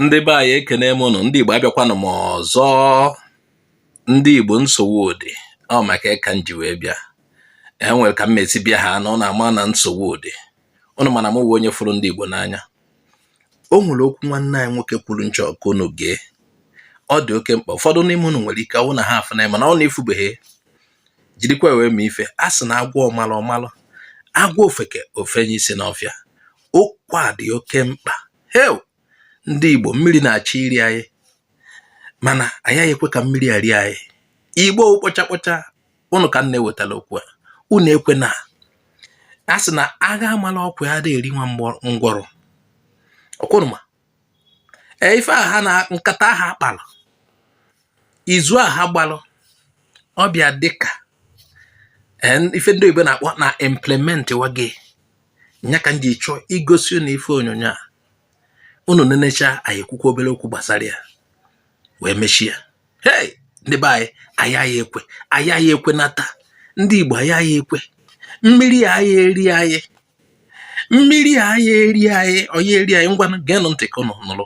ndị be anyị ekene m ụnụ ndị Igbo abịakwanụ m ọzọ ndị Igbo nsogbu dị ọ maka ya ka m ji wee bịa e nwere ka m mesi bịa ha ụnụ ama na nsogbu dị ụnụ ma na m wụ onye fụrụ ndị Igbo n'anya o nwere okwu nwanne anyị nwoke kwuru m chọ ka unu gee ọ dị oke mkpa ụfọdụ n'ime ụnụ nwere ike ọ wụ na ha afụ na mana ọ na-afụbeghị jirikwa wee mee ife a sị na a gwa ọmalụ ọ malụ a gwa ofeke o fenye isi n'ọfịa okwu a dị oke mkpa heo ndị Igbo mmiri na-achọ iri anyị mana ayaghị ekwe ka mmiri a rie anyị Igbo kpọcha kpọcha ụnụ ka m na-ewetara okwu a unu ekwena a sị na agha a mala ọkwa adịghị eri nwa ngwọrọ ọkwa ụnụ ma e, ife a ha na nkata ha kpara izu a ha gbalụ ọ bịa dịka e, ife ndị oyibo na-akpọ na implement wa gị nya ka m ji chọọ igosi unu ife onyonyo a unu nenecha anyị ekwukwa obere okwu gbasara ya wee mechie hey ndị be anyị ayaghị ekwe ayaghị ekwe nata ndị Igbo ayaghị ekwe mmiri ayaghị eri anyị mmiri ayaghị eri anyị ọ yaghị eri anyị ngwa geenụ ntị ka ụnụ nụrụ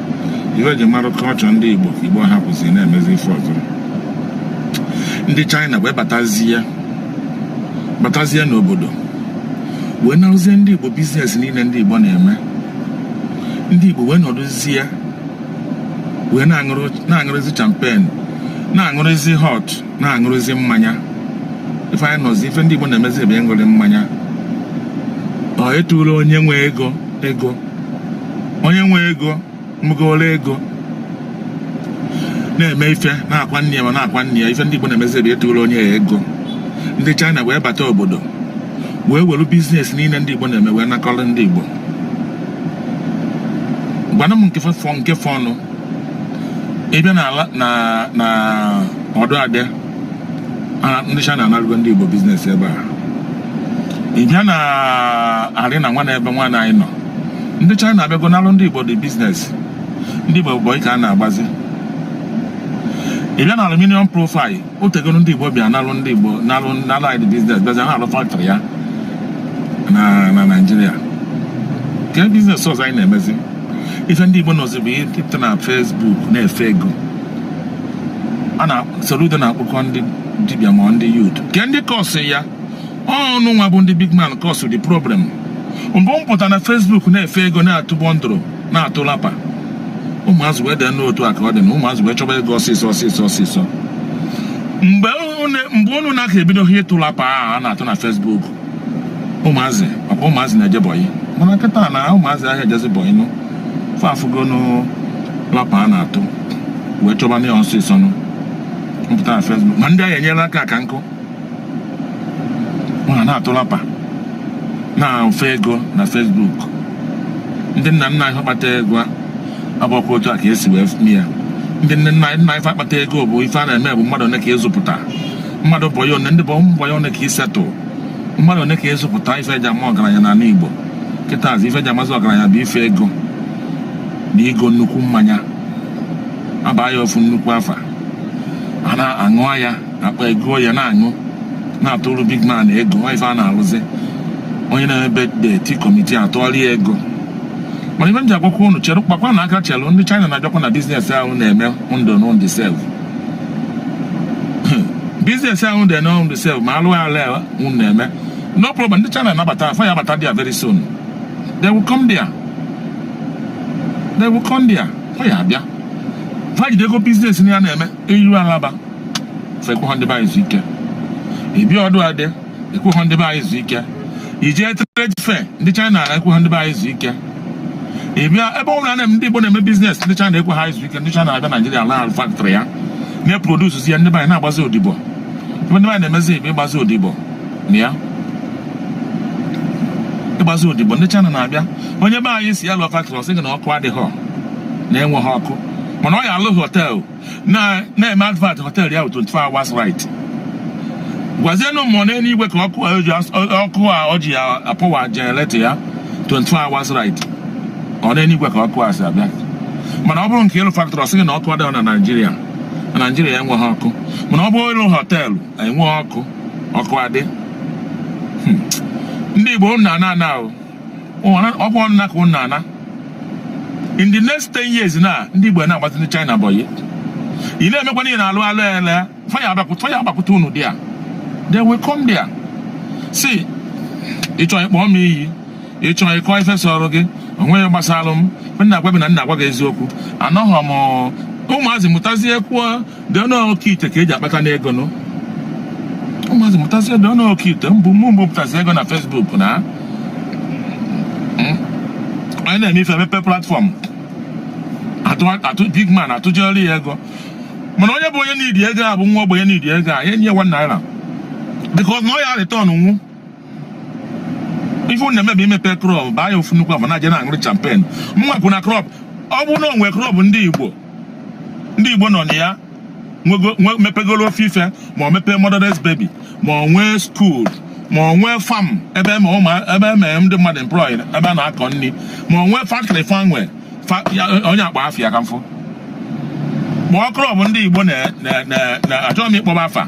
ife e ji mara culture ndị igbo ka igbo hapụzi na-emezi ife ọzọ ndị china wee batazie batazie n'obodo wee narụzie ndị igbo biznes niile ndị igbo na-eme ndị igbo wee nọdụzie wee na-aṅụrụzi champagne na-aṅụrụzi hot na-aṅụrụzi mmanya ife anyị nọzi ife ndị igbo na-emezi bụ ịṅụrị mmanya na ịtụrụ onye nwe ego ego onye nwe ego nwegoro ego na-eme ife na-akwa nne ya ma na-akwa nna ya ife ndị Igbo na-emezi bụ ịtụrụ onye ya ego ndị China wee bata obodo wee were biznes niile ndị Igbo na-eme wee nakọrọ ndị Igbo gwanụ m nke fọ nke fọ ụnụ ị bịa na ọdụ afịa a- ndị China anarụgo ndị Igbo biznes ebe a ị bịa na arena nwa na ebe nwa na anyị nọ ndị China abịago nalụ ndị Igbo the biznes ndị Igbo bụ ka a na-agbazi ị bịa na aluminium profile o tegoro ndị Igbo bịa nalụ ndị Igbo nalụ nalụ anyị the biznes bịazi na-alụ factory ya na na Naịjirịa ke biznes ọzọ anyị na-emezi ife ndị Igbo nọzi bụ ịpụta na Facebook na-efe ego a na Soludo na-akpụkọ ndị dibịa ma ndị youth ke ndị kọsụ ya ọ ụnụ nwa bụ ndị big man kọsụ the problem mgbe m pụta na Facebook na-efe ego na-atụ bundle na-atụ lapa ụmụazụ wee dee n'otu a ka ọ dị na ụmụazụ wee chọba ego ọsịsọ ọsịsọ ọsịsọ mgbe unu na-aka ebidoghị ịtụ lapa a na-atụ na Facebook ụmụazị ọkwa ụmụazị na-eje bọyị mana kịta na ụmụazị ahịa ejezi bọyị nụ fa afụgonụ lapa a na-atụ wee chọba na ya ọsịsọ nụ m pụta na fesbuk ma ndị ahịa enyela aka aka nkụ ma na-atụ lapa na-afe ego na fesbuk ndị nna nna anyị kpata ego abụghọkwa otu a ka esi wee mee ya ndị nne nna anyị nna anyị fa akpata ego bụ ife a na-eme bụ mmadụ one ka ị zụpụta mmadụ bọyị one ndị bụ ụmụ bọyị one ka i setụl mmadụ one ka ị zụpụta ife eji ama ọgaranya n'ala Igbo kịta azụ ife eji amazị ọgaranya bụ ife ego na igo nnukwu mmanya a baa ya ofu nnukwu afa a na-aṅụ ya akpa ego ya na-aṅụ na-atụrụ big man ego ọ ife a na-alụzi onye na-eme birthday kọmitii atụọla ya ego mana ife m ji agwakwa unu chere kpakwa na aka chelụ ndị China na-abịakwa na biznes ahụ na-eme ndụ na ọ dị safe biznes ahụ dị na ọ dị safe ma alụ ala unu na-eme no problem ndị china na-abata fa ya abata there very soon they will come there they will come there ọ ya abịa fa jidego biznes na ya na-eme i ru Alaba fa ekweghọ ndị be anyị izu ike ị bịa Odu-Ade ekweghọ ndị be anyị izu ike i je trade fair ndị China ekweghọ ndị be anyị izu ike ị bịa ebe ọbụla na ndị Igbo na-eme biznes ndị China ekweghọ izu ike ndị China abịa Naijiria alụọ faktrị ya na-eprodusi ya ndị be anyị na-agbazi odibo ife ndị be anyị na-emezi bụ ịgbazi odibo na ya ịgbazi odibo ndị China na-abịa onye be anyị sị ya lụọ faktrị ọ sị gị na ọkụ adịghị na enweghị ọkụ mana ọ ya alụ họteelụ na na-eme advert hotel ya 24 hours light gwazienụ m ọ n'elu igwe ka ọkụ ọkụ a ọ ji apawa jenereta ya 24 hours light ọ n'elu igwe ka ọkụ a si abịa mana ọ bụrụ nke ịlụ faktọrị ọ sị gị na ọkụ adịghị na naijiria na naijiria enweghị ọkụ mana ọ bụrụ ịlụ họteelụ e nwee ọkụ ọkụ adị hmm. ndị igbo na-ana ana ahụ ọ bụ ọnụna ka unu na-ana in the next 10 years na ndị Igbo na-agbazi ndị China bọyị ị na-emekwa ihe na-alụ alụ ele fa ya agbakwute unu there they will come there see ị chọọ ịkpọ m iyi ị chọọ ịkọ ife sọrọ gị onweghị gbasara m m na-agwa gị na m na-agwa gị eziokwu anọghọ m ụmụazị mụtazie kwuo dị ọnụ oke ite ka eji akpata n'ego nụ ụmụazị mụtazi dị ọnụ oke ite mbụ mụ mbụ pụtazi ego na fesbuk na hmm? onye na-eme ife mepe platfọm atụ big man atụjere ya ego mana onye bụ onye niidi ego a bụ nwa ogbenye niidi ego a enye ya one naira bikos na ọ ya retọnụ ife unu na-eme bụ imepe club baa ya ofu nnukwu afa na-aje na-aṅụrụ champagne mụnwa kwụ na club ọ bụrụ na o nwee club ndị igbo ndị igbo nọ na ya nwego- nwe- mepegolo ofu ife ma ọ mepee motherless baby ma ọ nwee school ma ọ nwee farm ebe eme ụmụ- ebe eme ndị mmadụ employ ebe a na-akọ nri ma ọ nwee factory fa nwe fa- ya- onye akpa afa ya ka m fụ ma ọ club ndị igbo na- na- na- na- achọghị m ịkpọba afa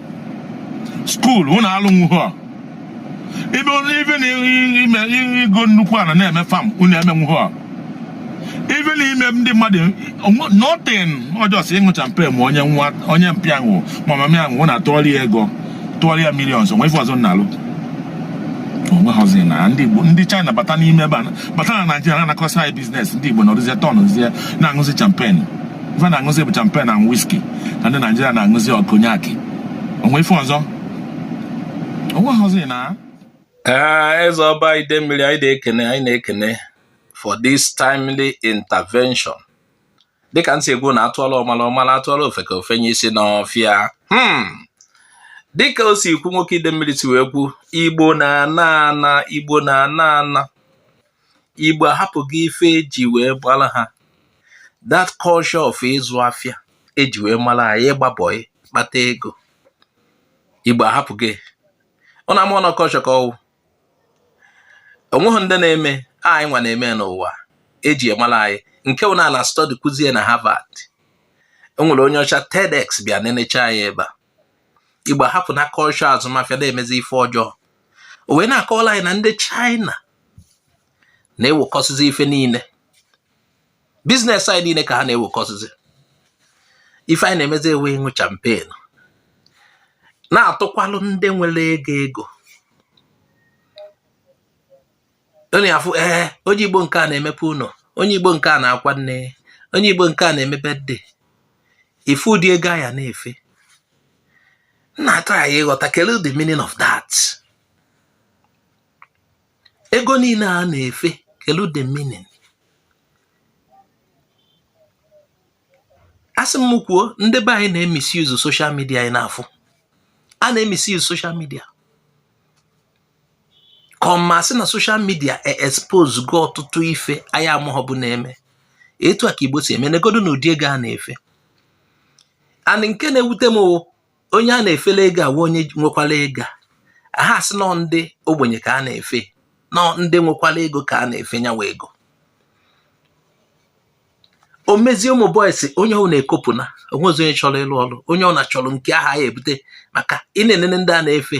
school unu alụnwuhu a even even ime ịgo nnukwu ala na-eme farm unu emenwuhu a even ime ndị mmadụ nothing ọ just ịṅụ champagne ma onye nwa onye mpa ya nwụ ma mama ya nwụ na tụọrọ ya ego tụọrọ ya millions o nwe ife ọzọ na-alụ o nweghọzi na ndị Igbo ndị China bata n'ime ebe a bata na Nigeria na-anakọsị anyị business ndị Igbo nọrụzie tọnụzie na-aṅụzi champagne ife na-aṅụzi bụ champagne na whisky ka ndị Nigeria na-aṅụzi ọ cognac o nwe ife ọzọ o nwehụzi na ee Eze Ọba Idemmili anyị na-ekene anyị na-ekene for this timely intervention dịka ntị egwu na a tụọlụ ọmala ọ mala a tụọlụ ofeke o fenye isi n'ọfịa hmm. dịka o si ikwu nwoke Idemmili si wee kwu igbo na-ana ana igbo na-ana ana igbo ahapụgo ife eji wee mara ha that culture of ịzụ afịa eji wee mara anyị ịgba bọị kpata ego igbo ahapụgo ya unu ama na ọ culture ka ọ wụ o nweghị ndị na-eme anyị nwa na-eme n'ụwa eji emara anyị nke wụ na a na-astudy kwuzie na Harvard o nwere onye ọcha TEDx bịa nenecha anyị ebe a igbo ahapụna culture azụmafịa na-emezi ife ọjọọ o wee na-akọwala anyị na ndị China na-ewekọsịzi ife niile business anyị niile ka ha na-ewekọsịzi ife anyị na-emezi wụ ịṅụ champagne na-atụkwalụ ndị nwere ego ego onye afụ ee eh, onye igbo nke a na-emepe ụnọ onye igbo nke a na-akwa nne onye igbo nke a na-eme birthday ị fụ ụdị ego a ya na-efe m na-atry ịghọta kelee the meaning of that ego niile a na-efe kelee the meaning asị m kwuo ndị be anyị na-emisuse social media anyị na-afụ a na-emisi yuzu soshal midia kọma sị na social media e-exposego ọtụtụ ife anyị amaghọbu na-eme etu a ka igbo si eme negodo na ụdị ego a na-efe and nke na-ewute m onye a na-efele ego awụ onye nwekwara ego a ha-asị na ọ ndị ogbenye ka a na-efe na ọ ndị nwekwara ego ka a na-efe nya wụ ego o mezie ụmụ boys onye ọ na-ekopụ na o nwezi onye chọrọ ịlụ ọrụ onye ọ na-achọrọ nke a ya-ebute maka ị na-enene ndị a na-efe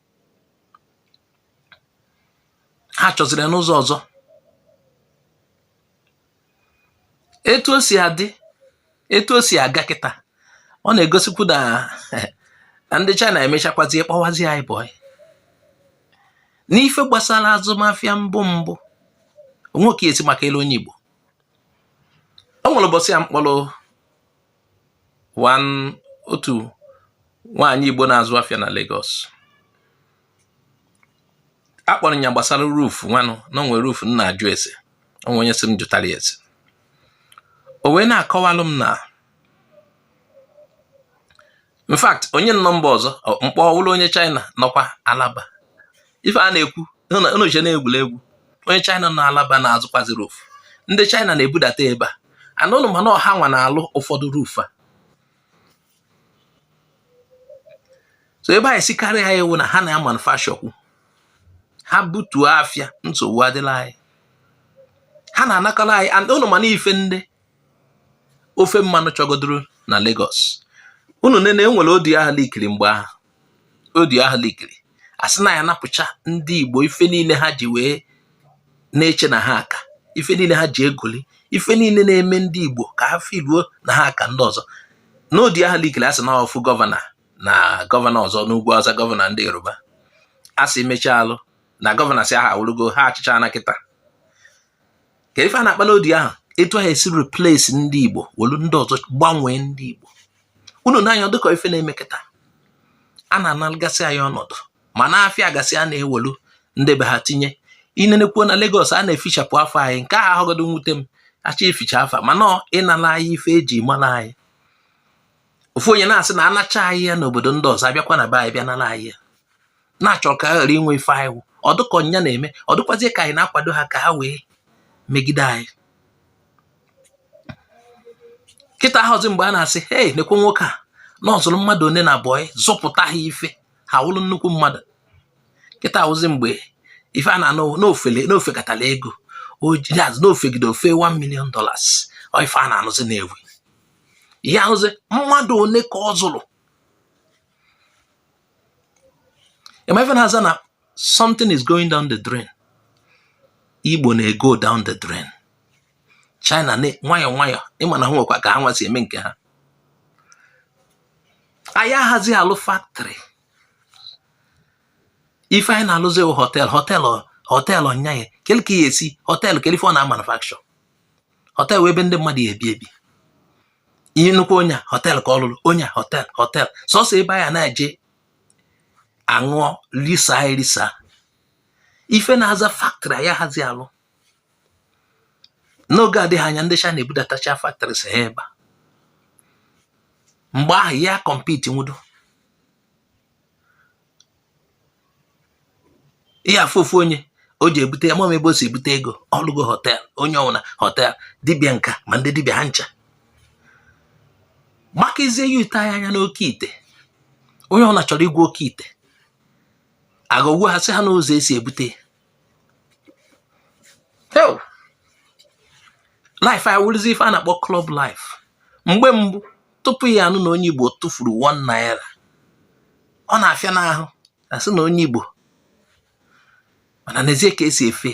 ha chọziri n'ụzọ ọzọ etu o si adị etu o si aga kịta ọ na-egosikwu na na ndị China emechakwazie kpọwazie anyị boy n'ife gbasara azụmafịa mbụ mbụ onwe ka esi maka elu onye Igbo o nwere ụbọchị a m kpọrọ otu nwaanyị Igbo na-azụ afịa na Lagos akpọrọ ya gbasara roof nwanụ na o nwe roof m na-ajụ ese o nwe onye sị m jụtara ya ese o wee na-akọwalụ m na in fact onye nọmba ọzọ m kpọ ọ wụrụ onye China nọkwa Alaba ife a na-ekwu unu che na egwuregwu onye China nọ Alaba na-azụkwazi roof ndị China na-ebudata ebe a and unu ma na ọ ha nwa na-alụ ụfọdụ roof a so ebe ha ya-esi karị anyị wụ na ha na-amanufacturekwu ha butuo afịa nsogbu adịla anyị ha na-anakọrọ anyị and unu ma na ife ndị ofe mmanụ chọgodoro na Lagos unu nene e nwere audio ahụ leakiri mgbe ahụ audio ahụ leakiri a sị na a ya-anapụcha ndị Igbo ife niile ha ji wee na-eche na ha aka ife niile ha ji egoli ife niile na-eme ndị Igbo ka ha feeluo na ha aka ndị ọzọ n'audio ahụ leakiri a sị na ofu gọvanọ na gọvanọ ọzọ n'ugwu Awụsa gọvanọ ndị Yoruba a sị mechaa alụ na gọvanọ si aha awụrụgo ha achịcha na kịta ka ife a na-akpa n'audio ahụ etu ha esi replace ndị Igbo welu ndị ọzọ gbanwee ndị Igbo unu nee anya dịka ife na-eme kịta a na-analụgasị anyị ọnọdụ ma n'afịa gasị a na-ewelu ndị be ha tinye i nenekwuo na Lagos a na-efichapụ afa anyị nke ahụ ahụgodo nwute m a chọ ificha afa mana ịnala anyị ife e ji mara anyị ofu onye na-asị na a nachaa anyị ya n'obodo ndị ọzọ a bịakwa na be anyị bịa nara anyị ya na-achọ ka ha ghara inwe ife anyị wụ ọ dịka ọ nya na-eme ọ dịkwazie ka anyị na-akwado ha ka ha wee megide anyị kịta ahụzi mgbe a na-asị hei nekwe nwoke a na ọ zụrụ mmadụ one na boy zụpụta ha ife ha wụrụ nnukwu mmadụ kịta ahụzi mgbe ife a na-anụ n'ofele na o fekatala ego ojaz na o fegide o fee 1 million dollars ọ ife a na-anụzi na-ewu ihe ahụzi mmadụ one ka ọ zụrụ ị ma ife na-aza na something is going down the drain Igbo na-ego down the drain China nwayọọ nwayọọ ị ma na ha nwekwa ka ha nwa si eme nke ha anyị ahazi alụ factory ife anyị na-alụzi wụ hotel hotel hotel ọnya ya kele ka a ya-esi hotel kele ife ọ na-amanufacture hotel wụ ebe ndị mmadụ ya-ebi ebi ihe nnukwu onye a hotel ka ọ lụrụ onye a hotel hotel sọsọ ebe anyị na-eje aṅụọ lisa erisa ife na-aza factory anyị ahazi alụ n'oge adịghị anya ndị China ebudatacha factories ha ebe a mgbe ahụ anyị compete nwudo ị ya-afụ ofu onye o ji ebute ya mama ebe o si ebute ego ọ lụgo hotel onye ọwụna hotel dibịa nka ma ndị dibịa ha ncha gbakazie youth anya n'oke ite onye ọwụna chọrọ ịgwọ oke ite agwọ ọgwụ ha sị ha n'ụzọ esi ebute life a wụrụzi ife a na-akpọ club life mgbe mbụ tupu ị ya-anụ na onye igbo tụfuru 1 naira ọ na-afịanụ ahụ asị na onye igbo mana nezie ka esi efe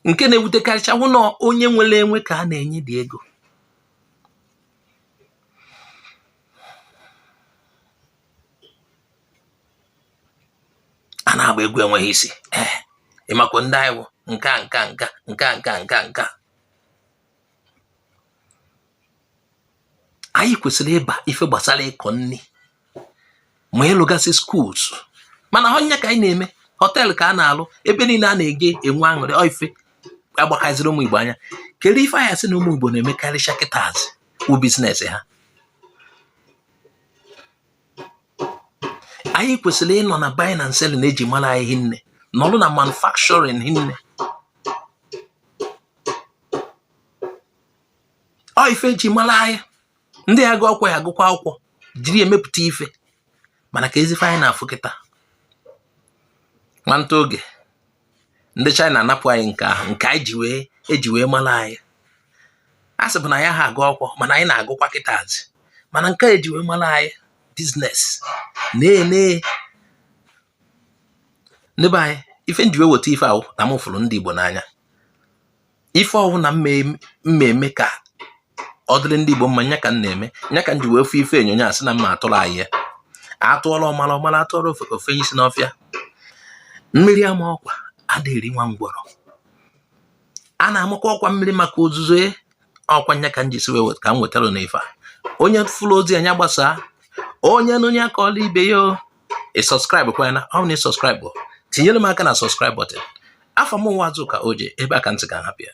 nke na-ewutekarịcha wụ na onye nwere enwe ka a na-enyedị ego a na-agba egwu enweghị isi ee ịmakwa ndị anyị wụ nka nka nka nka nka nka nka anyị kwesịrị ịba ife gbasara ịkọ nri ma ịlụgasị schools mana ọ nya ka anyị na-eme hotel ka a na-alụ ebe niile a na-eje enwe aṅụrị ife agbakaziri ụmụ Igbo anya kedu ife a ya-asị na ụmụ Igbo na-emekarịcha kịtazi bụ business ha anyị kwesịrị ịnọ na buying and selling eji mara anyị hinne nọrụ na manufacturing hinne ọ ife eji mara anyị ndị ya-agụ akwụkwọ ya-agụkwa akwụkwọ jiri ya emepụta ife mana kezi ife anyị na-afụ kịta nwanta oge ndị China anapụ anyị nke ahụ nke anyị ji wee eji wee mara anyị a sịbu na anyị aha agụ akwụkwọ mana anyị na-agụkwa kịtazi mana nke eji wee mara anyị business na-ene ndị be anyị ife m ji wee weta ife a wụ na m fụrụ ndị Igbo n'anya ife ọwụna m ga-eme ka ọ dịrị ndị Igbo mma nya ka m na-eme nya ka m ji wee fụ ife onyonyo a sị na m ga-atụrụ anyị ya atụọra ọmara ọ mara atụọra ofe isi n'ọfịa mmiri ama ọkwa ada eri nwa ngwọrọ a na-amakwa ọkwa mmiri maka ozuzo e, ọkwa nya ka m ji sị wee ka m wetara unu ife a onye fụrụ ozi a nya gbasaa onye nụ onye akọọra ibe ya ị subscribe kwa ya na ọ na ị subscribe tinyere m aka na subscribe button afa m wụ Azuka Oje ebe a ka ntị ga-ahapụ ya